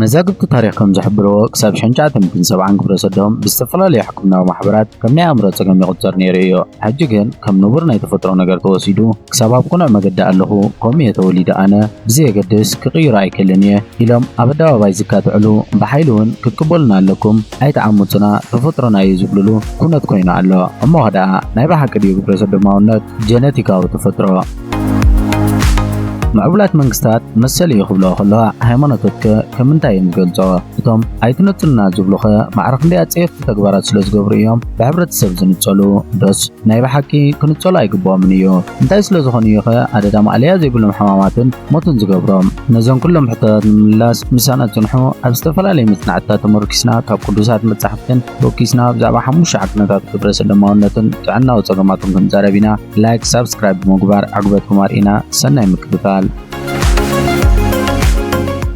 መዛግብቲ ታሪኽ ከም ዝሕብርዎ፣ ክሳብ ሸንሸዓትን ሚእትን ሰብዓን ግብረሰዶም ብዝተፈላለዩ ሕክምናዊ ማሕበራት ከም ናይ ኣእምሮ ጸገም ይቑጸር ነይሩ እዩ። ሕጂ ግን ከም ንቡር ናይ ተፈጥሮ ነገር ተወሲዱ፣ ክሳብ ኣብ ቅኑዕ መገዲ ኣለኹ፣ ከምኡ እየ ተወሊደ ኣነ፣ ብዘየገድስ ክቕይሮ ኣይክእልን እየ ኢሎም ኣብ ኣደባባይ ዝካትዕሉ፣ ብሓይሊ እውን ክትቅበሉና ኣለኩም፣ ኣይትዓምጹና፣ ተፈጥሮና እዩ ዝብልሉ ኩነት ኮይኑ ኣሎ። እሞኸ ደኣ ናይ ብሓቂ ድዩ ግብረሰዶማውነት ጀነቲካዊ ተፈጥሮ? ምዕቡላት መንግስታት መሰል እዩ ክብልኦ ከለዋ ሃይማኖትትከ ከም ምንታይ እዮም ዝገልጽኦ? እቶም ኣይትነጽሉና ዝብሉኸ ማዕረ ክንደይ ኣጸየፍቲ ተግባራት ስለ ዝገብሩ እዮም ብሕብረተሰብ ዝንጸሉ? ዶስ ናይ ብሓቂ ክንጸሉ ኣይግብኦምን እዩ? እንታይ ስለ ዝኾኑ እዩኸ ኣደዳ ማእለያ ዘይብሎም ሕማማትን ሞትን ዝገብሮም? ነዞም ኩሎም ሕቶታት ንምምላስ ምሳና ጽንሑ። ኣብ ዝተፈላለዩ መጽናዕትታት ተመርኲስና ካብ ቅዱሳት መጻሕፍትን ቦኪስና ብዛዕባ ሓሙሽተ ዓቅንታት ግብረ ሰዶማውነትን ጥዕናዊ ጸገማቱን ክንዛረብ ኢና። ላይክ ሳብስክራይብ ብምግባር ዕግበትኩም ኣርእና ሰናይ ምክትታል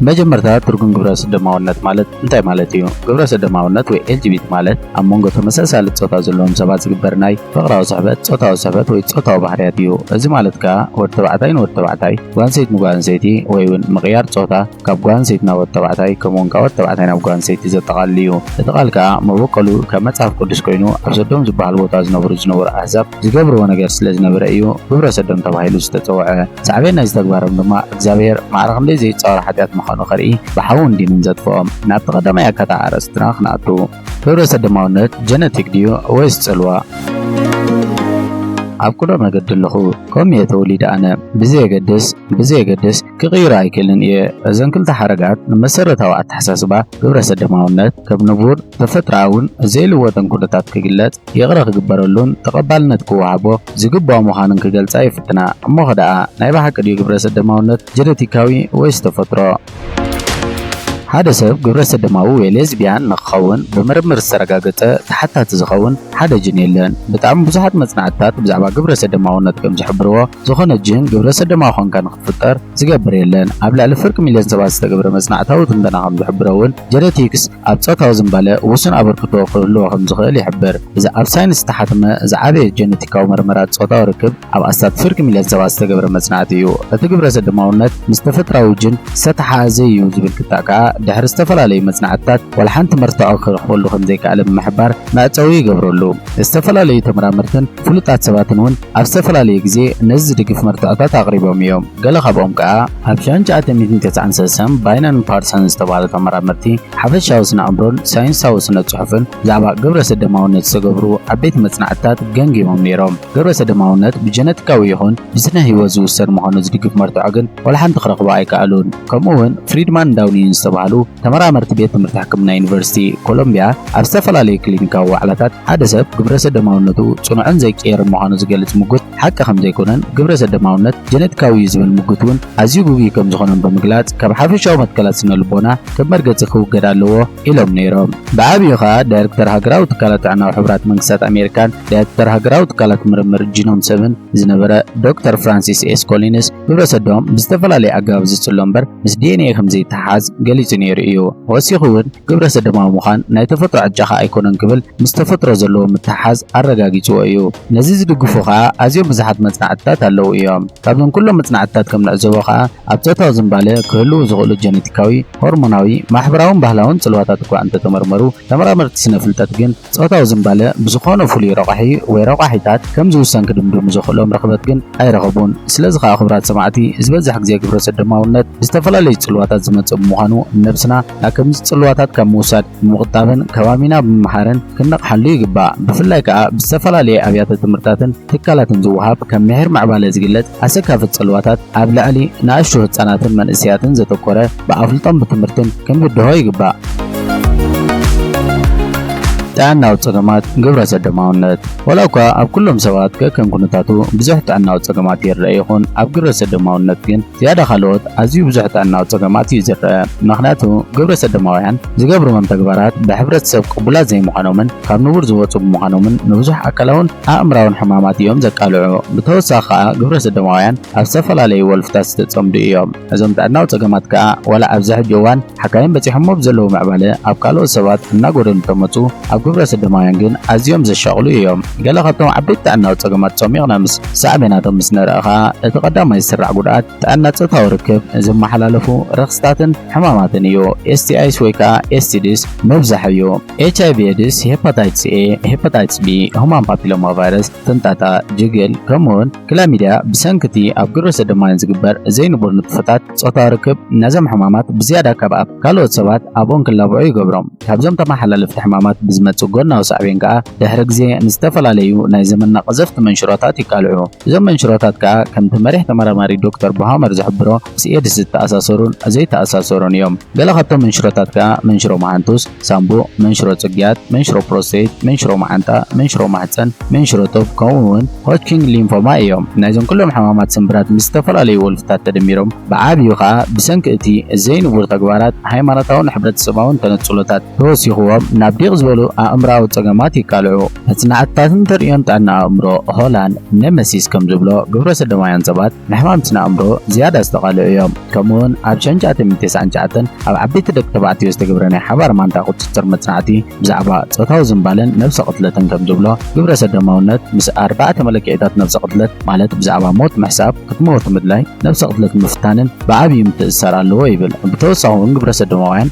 መጀመርታ ትርጉም ግብረ ሰዶማውነት ማለት እንታይ ማለት እዩ? ግብረ ሰዶማውነት ወይ ኤልጂቢቲ ማለት ኣብ መንጎ ተመሳሳሊ ጾታ ዘለዎም ሰባት ዝግበር ናይ ፍቕራዊ ስሕበት፣ ጾታዊ ስሕበት ወይ ጾታዊ ባህርያት እዩ። እዚ ማለት ከኣ ወዲ ተባዕታይ ንወዲ ተባዕታይ፣ ጓል ኣንሰይቲ ንጓል ኣንሰይቲ ወይ እውን ምቕያር ጾታ ካብ ጓል ኣንሰይቲ ናብ ወድ ተባዕታይ ከምኡውን ካብ ወድ ተባዕታይ ናብ ጓል ኣንሰይቲ ዘጠቓልል እዩ። እቲ ቃል ከኣ መበቆሉ ካብ መጽሓፍ ቅዱስ ኮይኑ ኣብ ሰዶም ዝበሃል ቦታ ዝነብሩ ዝነበሩ ኣህዛብ ዝገብርዎ ነገር ስለ ዝነበረ እዩ ግብረ ሰዶም ተባሂሉ ዝተጸውዐ። ሳዕቤን ናይዚ ተግባሮም ድማ እግዚኣብሄር ማዕረ ክንደይ ዘይጻወር ሓጢኣት ምዃኑ ከርኢ ብሓውን ዲንን ዘጥፍኦም። ናብቲ ቀዳማይ ኣካታዕ ኣርእስትና ክንኣቱ። ግብረ ሰዶማውነት ጀነቲክ ድዩ ወይስ ጽልዋ? ኣብ ቅኑዕ መገዲ ኣለኹ ከምኡ እየ ተወሊደ ኣነ ብዘየገድስ ብዘየገድስ ክቕይራ ኣይክእልን እየ። እዘን ክልተ ሓረጋት ንመሰረታዊ ኣተሓሳስባ ግብረሰደማውነት ከም ንቡር፣ ተፈጥሮኣውን ዘይልወጥን ኩነታት ክግለጽ፣ ይቕረ ክግበረሉን ተቐባልነት ክወሃቦ ዝግበኦ ምዃኑን ክገልጻ ይፍትና። እሞኸ ደኣ ናይ ብሓቂ ድዩ ግብረሰደማውነት ጀነቲካዊ ወይስ ተፈጥሮ? ሓደ ሰብ ግብረሰደማዊ ወይ ሌዝብያን ንክኸውን ብምርምር ዝተረጋገጸ ተሓታቲ ዝኸውን ሓደ ጅን የለን። ብጣዕሚ ብዙሓት መጽናዕትታት ብዛዕባ ግብረሰደማውነት ከም ዝሕብርዎ፣ ዝኾነ ጅን ግብረሰዶማዊ ኮንካ ንኽትፍጠር ዝገብር የለን። ኣብ ልዕሊ ፍርቂ ሚልዮን ሰባት ዝተገብረ መጽናዕታዊ ትንተና ከም ዝሕብሮ'ውን፣ ጀነቲክስ ኣብ ጾታዊ ዝንባለ ውሱን ኣበርክቶ ክህልዎ ከም ዝኽእል ይሕብር። እዚ ኣብ ሳይንስ ዝተሓትመ ዝዓበየ ጀነቲካዊ መርመራ ጾታዊ ርክብ ኣብ ኣስታት ፍርቂ ሚልዮን ሰባት ዝተገብረ መጽናዕቲ እዩ። እቲ ግብረሰዶማውነት ምስ ተፈጥራዊ ጅን ዝተተሓሓዘ እዩ ዝብል ክታእ ከኣ ድሕሪ ዝተፈላለዩ መጽናዕትታት ዋላ ሓንቲ መርትዖ ክረኽበሉ ከም ዘይከኣለ ብምሕባር መዕጸዊ ይገብረሉ። ዝተፈላለዩ ተመራመርትን ፍሉጣት ሰባትን እውን ኣብ ዝተፈላለየ ግዜ ነዚ ዝድግፍ መርትዖታት ኣቕሪቦም እዮም፣ ገለ ካብኦም ከኣ። ኣብ ሻን ሸዓተ ሚእትን ተስዓን ሰሰን ባይናን ፓርሰን ዝተባህሉ ተመራመርቲ ሓፈሻዊ ስነ-ኣእምሮን ሳይንሳዊ ስነ-ጽሑፍን ብዛዕባ ግብረሰደማውነት ዝተገብሩ ዓበይቲ መጽናዕትታት ገምጊሞም ነይሮም። ግብረሰደማውነት ብጀነቲካዊ ይኹን ብስነ-ህይወት ዝውሰን ምዃኑ ዝድግፍ መርትዖ ግን ዋላ ሓንቲ ክረኽቡ ኣይከኣሉን። ከምኡ'ውን ፍሪድማንን ዳውኒንን ዝተባህሉ ተመራመርቲ ቤት ትምህርቲ ሕክምና ዩኒቨርሲቲ ኮሎምብያ ኣብ ዝተፈላለዩ ክሊኒካዊ ዋዕላታት ሓደ ሰብ ግብረሰዶማውነቱ ጽኑዕን ዘይቅየርን ምዃኑ ዝገልጽ ምጉት ሓቂ ከምዘይኮነን ግብረሰዶማውነት ጀነቲካዊ እዩ ዝብል ምጉት እውን ኣዝዩ ግጉይ ከምዝኾነን ብምግላጽ ካብ ሓፈሻዊ መትከላት ስነልቦና ከም መርገጺ ክውገድ ኣለዎ ኢሎም ነይሮም። ብዓብዩ ከኣ ዳይረክተር ሃገራዊ ትካላት ጥዕናዊ ሕቡራት መንግስታት ኣሜሪካን ዳይረክተር ሃገራዊ ትካላት ምርምር ጂኖም ሰብን ዝነበረ ዶክተር ፍራንሲስ ኤስ ኮሊንስ ግብረ ሰዶም ብዝተፈላለየ ኣገባብ ዝጽሎ እምበር ምስ ዲኤንኤ ከም ዘይተሓሓዝ ገሊጹ ነይሩ እዩ። ወሲኹ እውን ግብረ ሰዶማዊ ምዃን ናይ ተፈጥሮ ዕጫኻ ኣይኮነን ክብል ምስ ተፈጥሮ ዘለዎ ምትሕሓዝ ኣረጋጊጽዎ እዩ። ነዚ ዝድግፉ ከኣ ኣዝዮም ብዙሓት መጽናዕትታት ኣለዉ እዮም። ካብዞም ኩሎም መጽናዕትታት ከም ንዕዘቦ ከኣ ኣብ ጾታዊ ዝምባለ ክህልዉ ዝኽእሉ ጀነቲካዊ፣ ሆርሞናዊ፣ ማሕበራውን ባህላውን ጽልዋታት እኳ እንተ ተመርመሩ፣ ተመራመርቲ ስነ-ፍልጠት ግን፣ ጾታዊ ዝምባለ ብዝዀነ ፍሉይ ረቛሒ ወይ ረቛሒታት ከም ዝውሰን ክድምድሙ ዘኽእሎም ርኽበት ግን ኣይረኸቡን። ስለዚ ኸኣ ክቡራት ሰማዕቲ፣ ዝበዝሕ ግዜ ግብረሰዶማውነት ብዝተፈላለዩ ጽልዋታት ዝመጽእ ብምዃኑ፣ ንነብስና ናብ ከምዚ ጽልዋታት ካብ ምውሳድ ብምቝጣብን ከባቢና ብምምሃርን ክንነቕሓሉ ይግባእ። ብፍላይ ከኣ ብዝተፈላለየ ኣብያተ-ትምህርታትን ትካላትን ዝወሃብ ከም ምሒር ምዕባለ ዝግለጽ፣ ኣሰካፊ ጽልዋታት ኣብ ልዕሊ ንኣሽቱ ህጻናትን መንእሰያትን ዘተኮረ ብኣፍልጦን ብትምህርትን ክንብድሆ ይግባእ። ጥዕናዊ ጸገማት ግብረ ሰዶማውነት ወላ እኳ ኣብ ኩሎም ሰባት ከከም ኩነታቱ ብዙሕ ጥዕናዊ ጸገማት ይርአ ይኹን ኣብ ግብረ ሰዶማውነት ግን ዝያዳ ካልኦት ኣዝዩ ብዙሕ ጥዕናዊ ጸገማት እዩ ዝርአ። ምክንያቱ ግብረ ሰዶማውያን ዝገብርዎም ተግባራት ብሕብረተሰብ ቅቡላት ዘይምዃኖምን ካብ ንቡር ዝወጹ ብምዃኖምን ንብዙሕ ኣካላውን ኣእምራውን ሕማማት እዮም ዘቃልዑ። ብተወሳኺ ከኣ ግብረ ሰዶማውያን ኣብ ዝተፈላለዩ ወልፍታት ዝተጸምዱ እዮም። እዞም ጥዕናዊ ጸገማት ከኣ ዋላ ኣብዚ ሕጂ እዋን ሓካይም በጺሖሞ ብዘለዉ ምዕባለ ኣብ ካልኦት ሰባት እናጎደሉ እንተመጹ ኣብ ግብረ ሰዶማውያን ግን ኣዝዮም ዘሻቕሉ እዮም። ገለ ካብቶም ዓበይቲ ጥዕናዊ ጸገማት ጾሚቕና ምስ ሳዕቤናቶም ምስ ንርኢ ከኣ እቲ ቀዳማይ ዝስራዕ ጉድኣት ጥዕና ጾታዊ ርክብ ንዝመሓላለፉ ረኽስታትን ሕማማትን እዩ። STIs ወይ ከዓ STDs ምብዛሕ እዩ። HIV ኤድስ፣ ሄፓታይትስ ኤ፣ ሄፓታይትስ ቢ፣ ሁማን ፓፒሎማ ቫይረስ፣ ፍንጣጣ፣ ጅግል፣ ከምኡውን ክላሚድያ ብሰንኪ እቲ ኣብ ግብረ ሰዶማውያን ዝግበር ዘይንቡር ንጥፈታት ጾታዊ ርክብ ነዞም ሕማማት ብዝያዳ ካብ ኣብ ካልኦት ሰባት ኣብኦም ክላበዑ ይገብሮም። ካብዞም ተመሓላለፍቲ ሕማማት ብዝመጽእ ጎናዊ ሳዕቤን ከዓ ድሕሪ ግዜ ንዝተፈላለዩ ናይ ዘመንና ቀዘፍቲ መንሽሮታት ይቃልዑ። እዞም መንሽሮታት ከኣ ከምቲ መሪሕ ተመራማሪ ዶክተር ቦሃመር ዝሕብሮ ምስ ኤድስ ዝተኣሳሰሩን ዘይተኣሳሰሩን እዮም። ገለ ካብቶም መንሽሮታት ከኣ መንሽሮ መሃንቱስ፣ ሳምቡእ፣ መንሽሮ ጽግያት፣ መንሽሮ ፕሮስተይት፣ መንሽሮ መዓንጣ፣ መንሽሮ ማህጸን፣ መንሽሮ ቶብ ከምኡ'ውን ሆጅኪንግ ሊምፎማ እዮም። ናይዞም ኩሎም ሕማማት ስምብራት ምስ ዝተፈላለዩ ወልፍታት ተደሚሮም ብዓቢኡ ከኣ ብሰንኪ እቲ ዘይንቡር ተግባራት ሃይማኖታውን ሕብረተሰባውን ተነጽሎታት፣ ተወሲኽዎም ናብ ዲቕ ዝበሉ ኣእምሮኣዊ ጸገማት ይቃልዑ። መጽናዕትታትን ተርእዮን ጥዕና ኣእምሮ ሆላን ኔመሲስ ከም ዝብሎ፣ ግብረሰዶማውያን ሰባት ንሕማም ስነኣእምሮ ዝያዳ ዝተቓልዑ እዮም። ከምኡ'ውን ኣብ ሸን ቻተምን ቴስዓን ቻኣተን ኣብ ዓበይቲ ደቂ ተባዕትዮ ዝተገብረ ናይ ሓባር ማንታ ቁጽጽር መጽናዕቲ ብዛዕባ ጾታዊ ዝንባለን ነብሰ ቅትለትን ከም ዝብሎ፣ ግብረሰዶማውነት ምስ ኣርባዕተ መለክዒታት ነብሰ ቅትለት ማለት ብዛዕባ ሞት ምሕሳብ፣ ክትመወቱ ምድላይ፣ ነብሰ ቅትለት ምፍታንን ብዓብዪ ምትእስሳር ኣለዎ ይብል። ብተወሳኺ'ውን ግብረሰዶማውያን።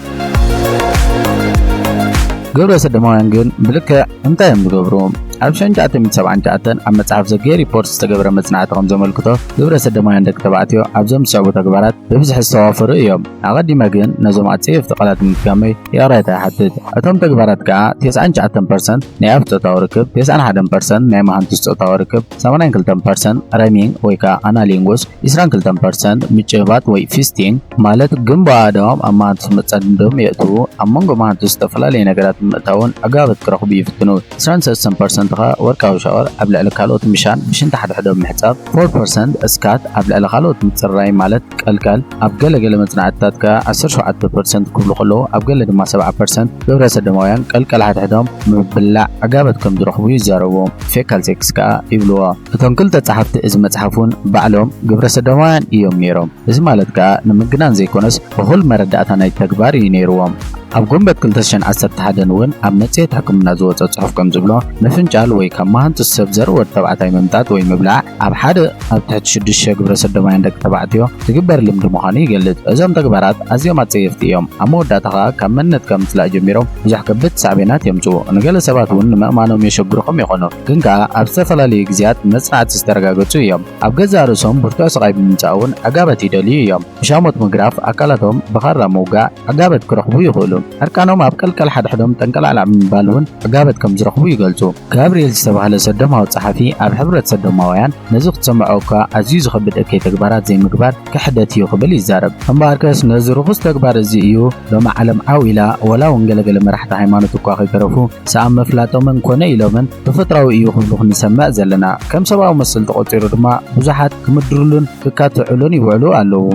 ግብረ ሰዶማውያን ግን ብልክዕ እንታይ እዮም ዝገብሩ? ኣብ 1979 ኣብ መጽሓፍ ዘጌ ሪፖርት ዝተገብረ መጽናዕቲ ከም ዘመልክቶ ግብረ ሰዶማውያን ደቂ ተባዕትዮ ኣብዞም ዝስዕቡ ተግባራት ብብዝሒ ዝተዋፈሩ እዮም። ኣቐዲመ ግን ነዞም ኣጸየፍቲ ቃላት ንምፍጋመይ ይቕሬታ ይሓትት። እቶም ተግባራት ከኣ 99% ናይ ኣፍ ጾታዊ ርክብ፣ 91% ናይ መሃንቱስ ጾታዊ ርክብ፣ 82% ረሚንግ ወይ ከኣ ኣናሊንጉስ፣ ዕስራን ክልተን ፐርሰንት ምጭብባጥ ወይ ፊስቲንግ ማለት ግንቦ ኣእዳዎም ኣብ መሃንቱስ መጻድንዶም የእትዉ፣ ኣብ መንጎ መሃንቱስ ዝተፈላለየ ነገራት ብምእታውን ኣገባባት ክረኽቡ ይፍትኑ። ዕስራን ሰለስተን ፐርሰንት ከኣ ወርቃዊ ሻወር ኣብ ልዕሊ ካልኦት ምሻን ብሽንቲ ሓድሕዶም ምሕጻብ፣ ፎር ፐርሰንት እስካት ኣብ ልዕሊ ካልኦት ምጽርራይ ማለት ቀልቀል፣ ኣብ ገለ ገለ መጽናዕትታት ከኣ ዓሰርተ ሸውዓተ ፐርሰንት ክብሉ ከለዉ ኣብ ገለ ድማ ሰብዓ ፐርሰንት ግብረሰዶማውያን ቀልቀል ሓድሕዶም ብምብላዕ ኣገባባት ከም ዝረኽቡ ይዛረቡ፣ ፌካል ሴክስ ከኣ ይብልዎ። እቶም ክልተ ጸሓፍቲ እዚ መጽሓፍ ውን ባዕሎም ግብረ ሰዶማውያን ኢዮም ኔሮም እዚ ማለት ከኣ ንምግናን ዘይኮነስ እኹል መረዳእታ ናይቲ ተግባር ኢዩ ኔርዎም። ኣብ ጉንበት ክልተ ሽሕን ዓሰርተ ሓደን ውን ኣብ መጽሔት ሕክምና ዝወጸ ጽሑፍ ከም ዝብሎ ምፍንጫል ወይ ካብ መሃንጡስ ሰብ ዘርኢ ወዲ ተባዕታይ ምምጣጥ ወይ ምብላዕ ኣብ ሓደ ኣብ ትሕቲ ሽዱሽተ ሽሕ ግብረ ሰዶማውያን ደቂ ተባዕትዮ ዝግበር ልምዲ ምዃኑ ይገልጽ። እዞም ተግባራት ኣዝዮም ኣጸየፍቲ ኢዮም ኣብ መወዳእታ ከኣ ካብ መንነትካ ምጽላእ ጀሚሮም ብዙሕ ከበድቲ ሳዕቤናት የምጽኡ ንገለ ሰባት ውን ንምእማኖም የሸግሩኹም ይኾኑ። ግን ከኣ ኣብ ዝተፈላለዩ ግዜያት ብመጽናዕቲ ዝተረጋገጹ እዮም። ኣብ ገዛእ ርእሶም ብርቱዕ ስቓይ ብምምጻእ'ውን ዕጋበት ይደልዩ እዮም። ብሻሞት ምግራፍ፣ ኣካላቶም ብኻራ ምውጋእ ዕጋበት ክረኽቡ ይኽእሉ። ዕርቃኖም ኣብ ቀልቀል ሓድሕዶም ጠንቀላዕላዕ ብምባል'ውን ዕጋበት ከም ዝረኽቡ ይገልጹ። ጋብርኤል ዝተባህለ ሰዶማዊ ጸሓፊ ኣብ ሕብረት ሰዶማውያን ነዚ ክትሰምዖ'ኳ ኣዝዩ ዝኸብድ እከይ ተግባራት ዘይምግባር፣ ክሕደት እዩ ክብል ይዛረብ። እምበኣርከስ ነዚ ርኹስ ተግባር እዚ እዩ ሎሚ ዓለም ዓው ኢላ ወላ እውን ገለ ገለ መራሕቲ ሃይማኖት እኳ ከይተረፉ ሰኣን ምፍላጦምን ኮነ ኢሎምን ተፈጥሮኣዊ እዩ ክብሉ ክንሰምዕ ዘለና። ከም ሰብኣዊ መሰል ተቖጺሩ ድማ ብዙሓት ክምድርሉን ክካትዑሉን ይውዕሉ ኣለዉ።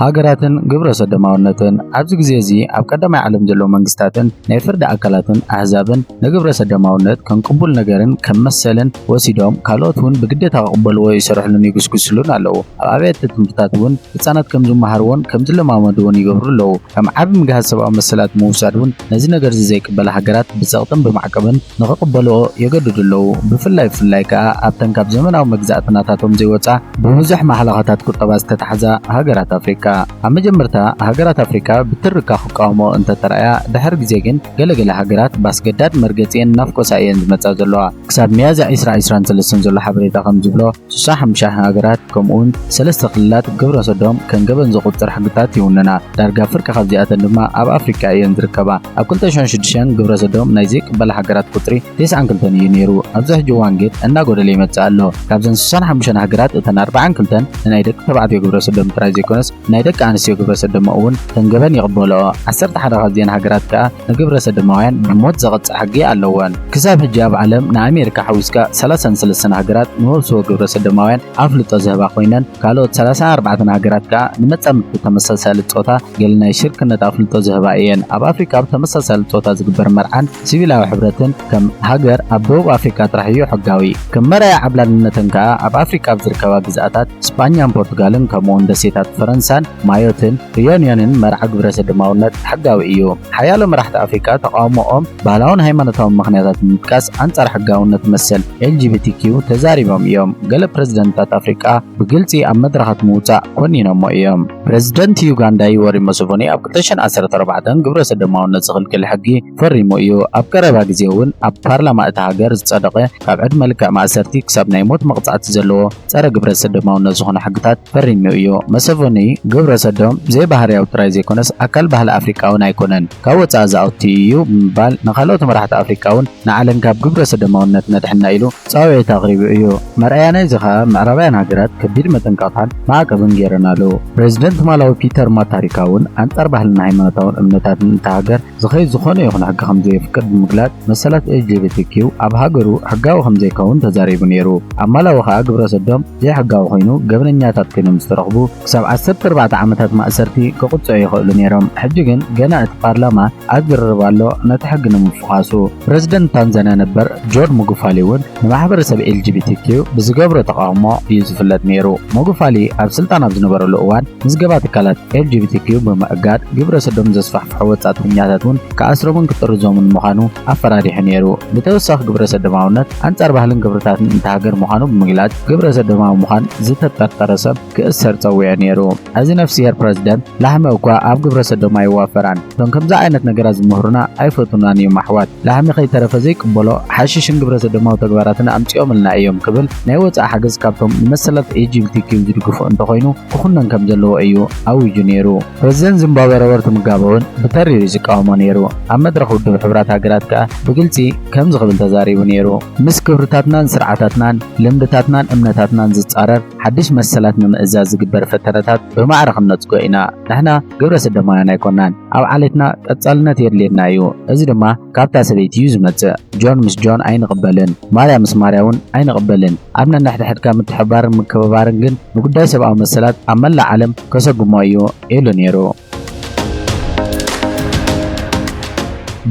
ሃገራትን ግብረሰዶማውነትን ኣብዚ ግዜ እዚ ኣብ ቀዳማይ ዓለም ዘለዉ መንግስታትን ናይ ፍርዲ ኣካላትን ኣህዛብን ንግብረሰዶማውነት ከም ቅቡል ነገርን ከም መሰልን ወሲዶም ካልኦት ውን ብግዴታ ክቕበልዎ ይሰርሕሉን ይጉስጉስሉን ኣለዉ። ኣብ ኣብያተ ትምህርትታት ውን ህጻናት ከም ዝመሃርዎን ከም ዝለማመድዎን ይገብሩ ኣለዉ። ከም ዓቢ ምግሃስ ሰብኣዊ መሰላት ምውሳድ ውን ነዚ ነገርዚ ዘይቅበላ ሃገራት ብጸቕጥን ብማዕቀብን ንኽቕበልኦ የገድዱ ኣለዉ። ብፍላይ ብፍላይ ከኣ ኣብተን ካብ ዘመናዊ መግዛእቲ ናታቶም ዘይወጻ ብብዙሕ ማሕለኻታት ቁጠባ ዝተታሕዛ ሃገራት ኣፍሪቃ። ኣብ መጀመርታ ሃገራት ኣፍሪቃ ብትርካ ክቃወምኦ እንተ ተራእያ፣ ድሕሪ ግዜ ግን ገለ ገለ ሃገራት ብኣስገዳድ መርገጺኤን እናፍኮሳ እየን ዝመጻ ዘለዋ። ክሳብ ሚያዝያ ዕስራ ዕስራን ሰለስተን ዘሎ ሓበሬታ ከም ዝብሎ፣ ሽሳ ሓምሻ ሃገራት ከምኡውን ሰለስተ ክልላት ግብረ ሰዶም ከም ገበን ዘቑጽር ሕግታት ይውንና፣ ዳርጋ ፍርቂ ካብዚኣተን ድማ ኣብ ኣፍሪቃ እየን ዝርከባ። ኣብ ክልተ ሽሕን ሽዱሽተን ግብረ ሰዶም ናይ ዘይቅበላ ሃገራት ቁጽሪ ተስዓን ክልተን እዩ ነይሩ፣ ኣብዚ ሕጂ እዋን ግን እናጎደለ ይመጽእ ኣሎ። ካብዘን ሽሳን ሓምሻን ሃገራት እተን ኣርባዓን ክልተን ንናይ ደቂ ተባዕትዮ ግብረ ሰዶም ጥራይ ዘይኮነስ ንናይ ደቂ ኣንስትዮ ግብረ ሰዶም'ውን ከም ገበን ይቕበልኦ፣ ዓሰርተ ሓደ ካብዚኣን ሃገራት ከኣ ንግብረ ሰዶማውያን ብሞት ዘቐጽዕ ሕጊ ኣለወን። ክሳብ ሕጂ ኣብ ዓለም ንኣሜሪካ ሓዊስካ ሰላሳን ሰለስተን ሃገራት ንመብስቦ ግብረ ሰዶማውያን ኣፍልጦ ዝህባ ኮይነን ካልኦት ሰላሳን ኣርባዕተን ሃገራት ከኣ ንመጻምድቲ ተመሳሳሊ ጾታ ገለ ናይ ሽርክነት ኣፍልጦ ዝህባ እየን። ኣብ ኣፍሪቃ ኣብ ተመሳሳሊ ጾታ ዝግበር መርዓን ሲቪላዊ ሕብረትን ከም ሃገር ኣብ ደቡብ ኣፍሪቃ ጥራሕ እዩ ሕጋዊ። ከም መርኣያ ዓብላልነተን ከኣ ኣብ ኣፍሪቃ ኣብ ዝርከባ ግዝኣታት ስጳኛን ፖርቱጋልን ከምኡውን ደሴታት ፈረንሳን ማዮትን ርዩንዮንን መርዓ ግብረሰዶማውነት ሕጋዊ እዩ። ሓያሎ መራሕቲ ኣፍሪቃ ተቓውሞኦም ባህላውን ሃይማኖታውን ምኽንያታት ብምጥቃስ ኣንጻር ሕጋውነት መሰል LGBTQ ተዛሪቦም እዮም። ገለ ፕረዚደንትታት ኣፍሪቃ ብግልጺ ኣብ መድረኻት ምውጻእ ኰኒኖሞ እዮም። ፕረዚደንት ዩጋንዳ ዩወሪ ሙሰቨኒ ኣብ ክልተ ሽሕን ዓሰርተ ኣርባዕተን ግብረሰዶማውነት ዝኽልክል ሕጊ ፈሪሙ እዩ። ኣብ ቀረባ ግዜ እውን ኣብ ፓርላማ እታ ሃገር ዝጸደቐ ካብ ዕድመ ልክዕ ማእሰርቲ ክሳብ ናይ ሞት መቕጻዕቲ ዘለዎ ጸረ ግብረሰዶማውነት ዝኾነ ሕግታት ፈሪሙ እዩ። መሰቨኒ ግብረሰዶም ዘይባህርያዊ ጥራይ ዘይኮነስ ኣካል ባህሊ ኣፍሪቃ'ውን ኣይኮነን፣ ካብ ወጻኢ ዝኣቱ እዩ ብምባል ንካልኦት መራሕቲ ኣፍሪቃ'ውን ንዓለም ካብ ግብረሰዶማውነት ነድሕና ኢሉ ጻውዒት ኣቕሪቡ እዩ። መርኣያ ናይዚ ከኣ ምዕራባውያን ሃገራት ከቢድ መጠንቀቕታን ማዕቀብን ገይረናሉ። ፕረዚደንት ማላዊ ፒተር ማታሪካ'ውን ኣንጻር ባህልን ሃይማኖታውን እምነታትን እታ ሃገር ዝኸይድ ዝኾነ ይኹን ሕጊ ከምዘየፍቅድ ብምግላጽ መሰላት LGBTQ ኣብ ሃገሩ ሕጋዊ ከምዘይከውን ተዛሪቡ ነይሩ። ኣብ ማላዊ ከኣ ግብረሰዶም ዘይሕጋዊ ኮይኑ ገበነኛታት ኮይኖም ዝተረኽቡ ክሳብ ዓሰርተ ኣርባዕተ ዓመታት ማእሰርቲ ክቕጽዑ ይኽእሉ ነይሮም። ሕጂ ግን ገና እቲ ፓርላማ ኣብ ዝርርብ ኣሎ ነቲ ሕጊ ንምፍዃሱ። ፕረዚደንት ታንዛንያ ነበር ጆን ሙጉፋሊ እውን ንማሕበረሰብ LGBTQ ብዝገብሮ ተቓውሞ እዩ ዝፍለጥ ነይሩ። ሙጉፋሊ ኣብ ስልጣን ኣብ ዝነበረሉ እዋን ምዝገባ ትካላት LGBTQ ብምእጋድ ግብረሰዶም ዘስፋሕፍሕ ዝሰርሑ ወጻእተኛታት እውን ክኣስሮምን ክጥርዞምን ምዃኑ ኣፈራሪሑ ነይሩ። ብተወሳኺ ግብረሰዶማውነት ኣንጻር ባህልን ክብርታትን እታ ሃገር ምዃኑ ብምግላጽ ግብረሰዶማዊ ምዃን ዝተጠርጠረ ሰብ ክእሰር ጸዊዑ ነይሩ። እዚ ነፍስሄር ፕረዚደንት ላህሚ እኳ ኣብ ግብረሰዶም ኣይዋፈራን። እቶም ከምዚ ዓይነት ነገራት ዝምህሩና ኣይፈትዉናን እዮም ኣሕዋት። ላህሚ ከይተረፈ ዘይቅበሎ ሓሽሽን ግብረሰዶማዊ ተግባራትን ኣምጺኦምልና እዮም ክብል ናይ ወጻኢ ሓገዝ ካብቶም ንመሰላት ኤጂቢቲኪው ዝድግፉ እንተኾይኑ ክኹነን ከም ዘለዎ እዩ ኣዊጁ ነይሩ። ፕረዚደንት ዚምባብወ ሮበርት ሙጋበ'ውን ብተሪር እዩ ዝቃወሞ ነይሩ። ኣብ መድረኽ ውድብ ሕቡራት ሃገራት ከኣ ብግልጺ ከምዚ ክብል ተዛሪቡ ነይሩ፣ ምስ ክብርታትናን ስርዓታትናን፣ ልምድታትናን እምነታትናን ዝጻረር ሓድሽ መሰላት ንምእዛዝ ዝግበር ፈተነታት ብማዕረ ክንነጽጎ ኢና። ንሕና ግብረ-ስደማውያን ኣይኮናን። ኣብ ዓሌትና ቀጻልነት የድልየና እዩ፣ እዚ ድማ፣ ካብታ ሰበይቲ እዩ ዝመጽእ ጆን ምስ ጆን ኣይንቕበልን ማርያ ምስ ማርያ ውን ኣይንቕበልን ኣብ ነንሕድሕድካ ምትሕብባርን ምክብባርን ግን ንጉዳይ ሰብኣዊ መሰላት ኣብ መላእ ዓለም ከሰጉሞ እዩ ኢሉ ኔሩ።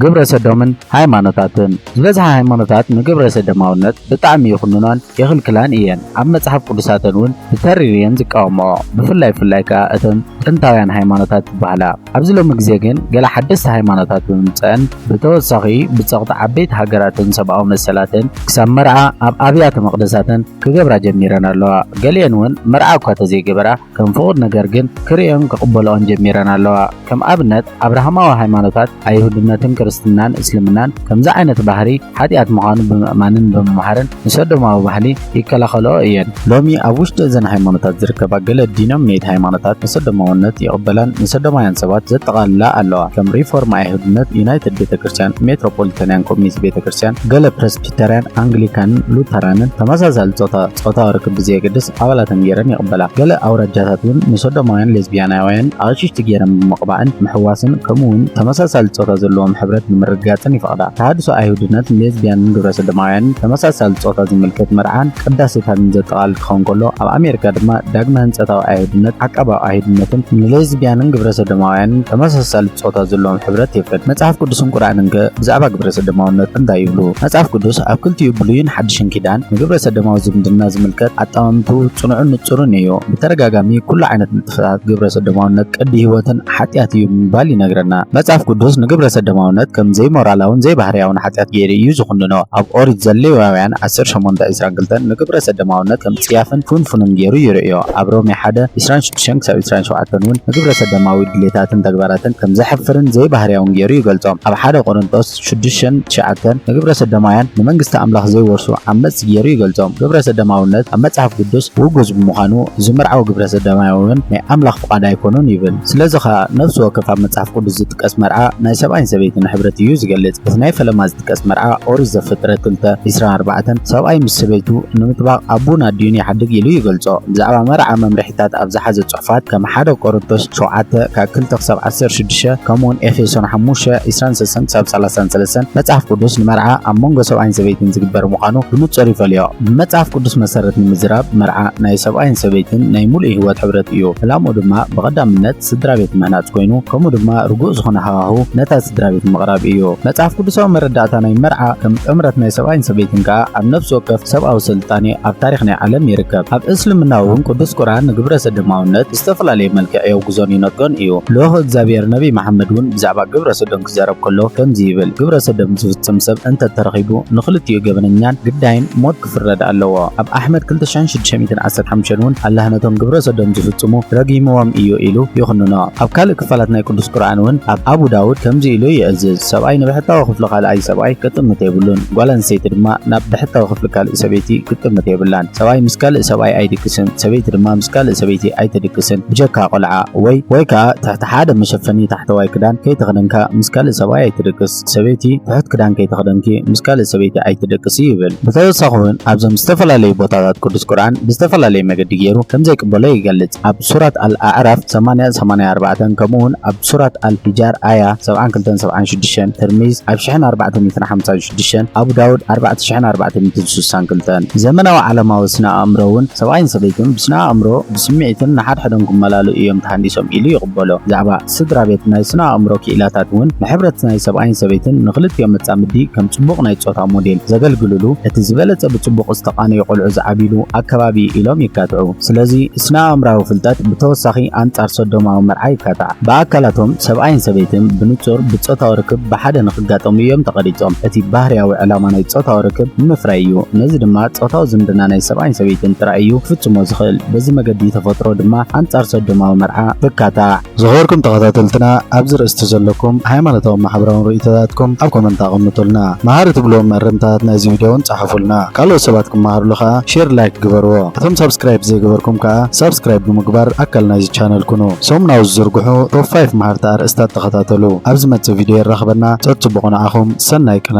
ግብረ ሰዶምን ሃይማኖታትን ዝበዝሓ ሃይማኖታት ንግብረ ሰደማውነት ብጣዕሚ ይኹንኖን የኽልክላን እየን ኣብ መጽሓፍ ቅዱሳተን እውን ብተሪር እየን ዝቃወምኦ ብፍላይ ፍላይ ከኣ እተን ጥንታውያን ሃይማኖታት ዝበሃላ ኣብዚ ሎሚ ግዜ ግን ገለ ሓደስቲ ሃይማኖታት ብምምጸእን ብተወሳኺ ብጸቕጢ ዓበይቲ ሃገራትን ሰብኣዊ መሰላትን ክሳብ መርዓ ኣብ ኣብያተ መቕደሳተን ክገብራ ጀሚረን ኣለዋ። ገሊኤን እውን መርዓ እኳ ተዘይገበራ ከም ፍቑድ ነገር ግን ክርእዮን ክቕበልኦን ጀሚረን ኣለዋ። ከም ኣብነት ኣብርሃማዊ ሃይማኖታት ኣይሁድነትን ክርስትናን እስልምናን ከምዚ ዓይነት ባህሪ ሓጢኣት ምዃኑ ብምእማንን ብምምሃርን ንሰዶማዊ ባህሊ ይከላኸልኦ እየን። ሎሚ ኣብ ውሽጢ እዘን ሃይማኖታት ዝርከባ ገለ ዲኖሚኔት ሃይማኖታት ንሰዶማውነት ይቕበላን ንሰዶማውያን ሰባት ዘጠቓልላ ኣለዋ፣ ከም ሪፎርም ኣይሁድነት፣ ዩናይትድ ቤተ ክርስቲያን፣ ሜትሮፖሊታንያን ኮሚኒስት ቤተ ክርስቲያን፣ ገለ ፕረስቢተርያን፣ ኣንግሊካንን ሉተራንን ተመሳሳሊ ጾታ ጾታዊ ርክብ ብዘየገድስ ኣባላተን ገይረን ይቕበላ። ገለ ኣውራጃታት እውን ንሰዶማውያን ሌዝቢያናውያን ኣቕሽሽቲ ገይረን ብምቕባእን ምሕዋስን ከምኡውን ተመሳሳሊ ጾታ ዘለዎም ሕብረት ንምርግጋጽን ይፍቐዳ። ይፈቕዳ። ተሃድሶ ኣይሁድነት ንሌዝብያንን ግብረሰዶማውያንን ተመሳሳሊ ጾታ ዝምልከት መርዓን ቅዳሴታትን ዘጠቓልል ክኸውን ከሎ፣ ኣብ ኣሜሪካ ድማ ዳግመ ህንጸታዊ ኣይሁድነት፣ ዓቃባዊ ኣይሁድነትን ንሌዝብያንን ግብረሰዶማውያንን ተመሳሳሊ ጾታ ዘለዎም ሕብረት የፍቅድ። መጽሓፍ ቅዱስን ቁርኣንንከ ብዛዕባ ግብረሰዶማውነት እንታይ ይብሉ? መጽሓፍ ቅዱስ ኣብ ክልቲኡ ብሉይን ሓድሽን ኪዳን ንግብረሰዶማዊ ዝምድና ዝምልከት ኣጠማምትኡ ጽኑዕን ንጹርን ኢዩ። ብተደጋጋሚ ኩሉ ዓይነት ንጥፈታት ግብረሰዶማውነት ቅዲ ህይወትን ሓጢኣት እዩ ብምባል ይነግረና። መጽሓፍ ቅዱስ ንግብረ ሰዶማውነት ከም ዘይሞራላውን ዘይባህርያውን ሓጢኣት ገይሩ እዩ ዝዅንኖ። ኣብ ኦሪት ዘሌዋውያን ዓሰርተ ሸሞንተ ዕስራን ክልተን ንግብረ ሰዶማውነት ከም ጽያፍን ፍንፉንን ገይሩ ይርእዮ። ኣብ ሮሜ ሓደ፣ ዕስራን ሽዱሽተን ክሳብ ዕስራን ሸውዓተን እውን ንግብረ ሰዶማዊ ድሌታትን ተግባራትን ከም ዘሕፍርን ዘይባህርያውን ገይሩ ይገልጾም። ኣብ ሓደ ቆሮንጦስ፣ ሽዱሽተን ትሽዓተን ንግብረሰዶማውያን ንመንግስቲ ኣምላኽ ዘይወርሱ ዓመጽቲ ገይሩ ይገልጾም። ግብረሰዶማውነት ኣብ መጽሓፍ ቅዱስ ውጉዝ ብምዃኑ ዝምርዓው ግብረሰዶማዊውን ናይ ኣምላኽ ፍቓድ ኣይኮኑን ይብል። ስለዚ ኸኣ ነፍሲ ወከፍ ኣብ መጽሓፍ ቅዱስ ዝጥቀስ መርዓ ናይ ሰብኣይን ሰበይትን ሕብረት እዩ ዝገልጽ። እቲ ናይ ፈለማ ዝጥቀስ መርዓ ኦሪት ዘፍጥረት ክልተ ዕስራን ኣርባዕተን ሰብኣይ ምስ ሰበይቱ ንምጥባቕ ኣቡን ኣዲኡን ይሓድግ ኢሉ ይገልጾ። ብዛዕባ መርዓ መምርሒታት ኣብ ዝሓዘ ክፋት ከም ሓደ ቆሮንቶስ ሸውዓተ ካብ ክልተ ክሳብ ዓሰርተ ሽዱሽተ ከምኡውን ኤፌሶን ሓሙሽተ ዕስራን ሰሰን ክሳብ ሰላሳን ሰለስተን መጽሓፍ ቅዱስ ንመርዓ ኣብ መንጎ ሰብኣይን ሰበይትን ዝግበር ምዃኑ ብንጹር ይፈልዮ። ብመጽሓፍ ቅዱስ መሰረት ንምዝራብ መርዓ ናይ ሰብኣይን ሰበይትን ናይ ምሉእ ህይወት ሕብረት እዩ። ዕላምኡ ድማ ብቐዳምነት ስድራቤት ምህናጽ ኮይኑ ከምኡ ድማ ርጉእ ዝኾነ ሃዋሁ ነታ ስድራቤት ምቕራብ እዩ። መጽሓፍ ቅዱሳዊ መረዳእታ ናይ መርዓ ከም ጥምረት ናይ ሰብኣይን ሰበይትን ከኣ ኣብ ነፍሲ ወከፍ ሰብኣዊ ስልጣኔ ኣብ ታሪኽ ናይ ዓለም ይርከብ። ኣብ እስልምና እውን ቅዱስ ቁርኣን ንግብረ ሰዶማውነት ብዝተፈላለየ መልክዕ የውግዞን ይነጥጎን እዩ። ልኡኽ እግዚኣብሔር ነቢይ መሓመድ እውን ብዛዕባ ግብረ ሰዶም ክዛረብ ከሎ ከምዚ ይብል፣ ግብረ ሰዶም ዝፍጽም ሰብ እንተ ተረኺቡ ንኽልቲኡ ገበነኛን ግዳይን ሞት ክፍረድ ኣለዎ። ኣብ ኣሕመድ ክልተ ሽሕን ሽዱሽተ ሚእትን ዓሰርተ ሓሙሽተን እውን ኣላህ ነቶም ግብረ ሰዶም ዝፍጽሙ ረጊምዎም እዩ ኢሉ ይኹንኖ። ኣብ ካልእ ክፋላት ናይ ቅዱስ ቁርኣን እውን ኣብ ኣቡ ዳውድ ከምዚ ኢሉ ይእዝዝ፣ ሰብኣይ ንብሕታዊ ክፍሊ ካልኣይ ሰብኣይ ክጥምት የብሉን፣ ጓል ኣንስተይቲ ድማ ናብ ብሕታዊ ካልእ ሰበይቲ ክትጥምት የብላን። ሰብኣይ ምስ ካልእ ሰብኣይ ኣይድቅስን፣ ሰበይቲ ድማ ምስ ካልእ ሰበይቲ ኣይትድቅስን። ብጀካ ቆልዓ ወይ ወይ ከኣ ትሕቲ ሓደ መሸፈኒ ታሕተዋይ ክዳን ከይተኸደንካ ምስ ካልእ ሰብኣይ ኣይትድቅስ። ሰበይቲ ትሑት ክዳን ከይተኸደንኪ ምስ ካልእ ሰበይቲ ኣይትድቅሲ ይብል። ብተወሳኺ እውን ኣብዞም ዝተፈላለዩ ቦታታት ቅዱስ ቁርኣን ብዝተፈላለየ መገዲ ገይሩ ከም ዘይቅበሎ ይገልጽ። ኣብ ሱራት ኣል ኣዕራፍ ሰማንያን ሰማንያን ኣርባዕተን ከምኡውን ኣብ ሱራት ኣል ሒጃር ኣያ ሰብዓን ክልተን ሰብዓን ሽዱሽተን፣ ትርሚዝ ኣብ ሽሕን ኣርባዕተ ሚእትን ሓምሳን ሽዱሽተን፣ ሽዱሽተን ኣቡ ዳውድ ኣርባዕተ ሽሕን ኣርባዕተ ሚእትን ስሳን ክልተን። ዘመናዊ ዓለማዊ ስነ ኣእምሮ እውን ሰብኣይን ሰበይትን ብስነ ኣእምሮ፣ ብስምዒትን ንሓድሕዶም ክመላለኡ እዮም ተሃንዲሶም ኢሉ ይቕበሎ። ብዛዕባ ስድራ ቤት ናይ ስነ ኣእምሮ ክኢላታት እውን ንሕብረት ናይ ሰብኣይን ሰበይትን ንኽልቲኦም መጻምዲ ከም ጽቡቕ ናይ ጾታ ሞዴል ዘገልግልሉ እቲ ዝበለጸ ብጽቡቕ ዝተቓነዩ ቆልዑ ዝዓብይሉ ኣከባቢ እዩ ኢሎም ይካትዑ። ስለዚ ስነ ኣእምራዊ ፍልጠት ብተወሳኺ ኣንጻር ሶዶማዊ መርዓ ይካታዕ። ብኣካላቶም ሰብኣይን ሰበይትን ብንጹር ብጾታዊ ርክብ ብሓደ ክጋጠሙ እዮም ተቐሪጾም። እቲ ባህርያዊ ዕላማ ናይ ጾታዊ ርክብ ንምፍራይ እዩ። ነዚ ድማ ጾታዊ ዝምድና ናይ ሰብኣይን ሰበይትን ጥራይ እዩ ክፍጽሞ ዝኽእል። በዚ መገዲ ተፈጥሮ ድማ ኣንጻር ሰዶማዊ መርዓ ትካታዕ። ዝኸበርኩም ተኸታተልትና ኣብዚ ርእስቲ ዘለኩም ሃይማኖታውን ማሕበራውን ርእይቶታትኩም ኣብ ኮመንት ኣቐምጡልና። መሃሪ ትብልዎም መእረምታታት ናይዚ ቪድዮ ውን ጸሓፉልና። ካልኦት ሰባት ክመሃርሉ ከኣ ሼር ላይክ ግበርዎ። እቶም ሳብስክራይብ ዘይገበርኩም ከኣ ሳብስክራይብ ብምግባር ኣካል ናይዚ ቻነል ኩኑ። ሰሙናዊ ዝዝርግሑ ቶፕ ፋይፍ መሃርቲ ኣርእስታት ተኸታተሉ። ኣብ ዝመጽእ ቪድዮ የራኽበና፣ ጸጽቡቑ ንዓኹም፣ ሰናይ ቅነ።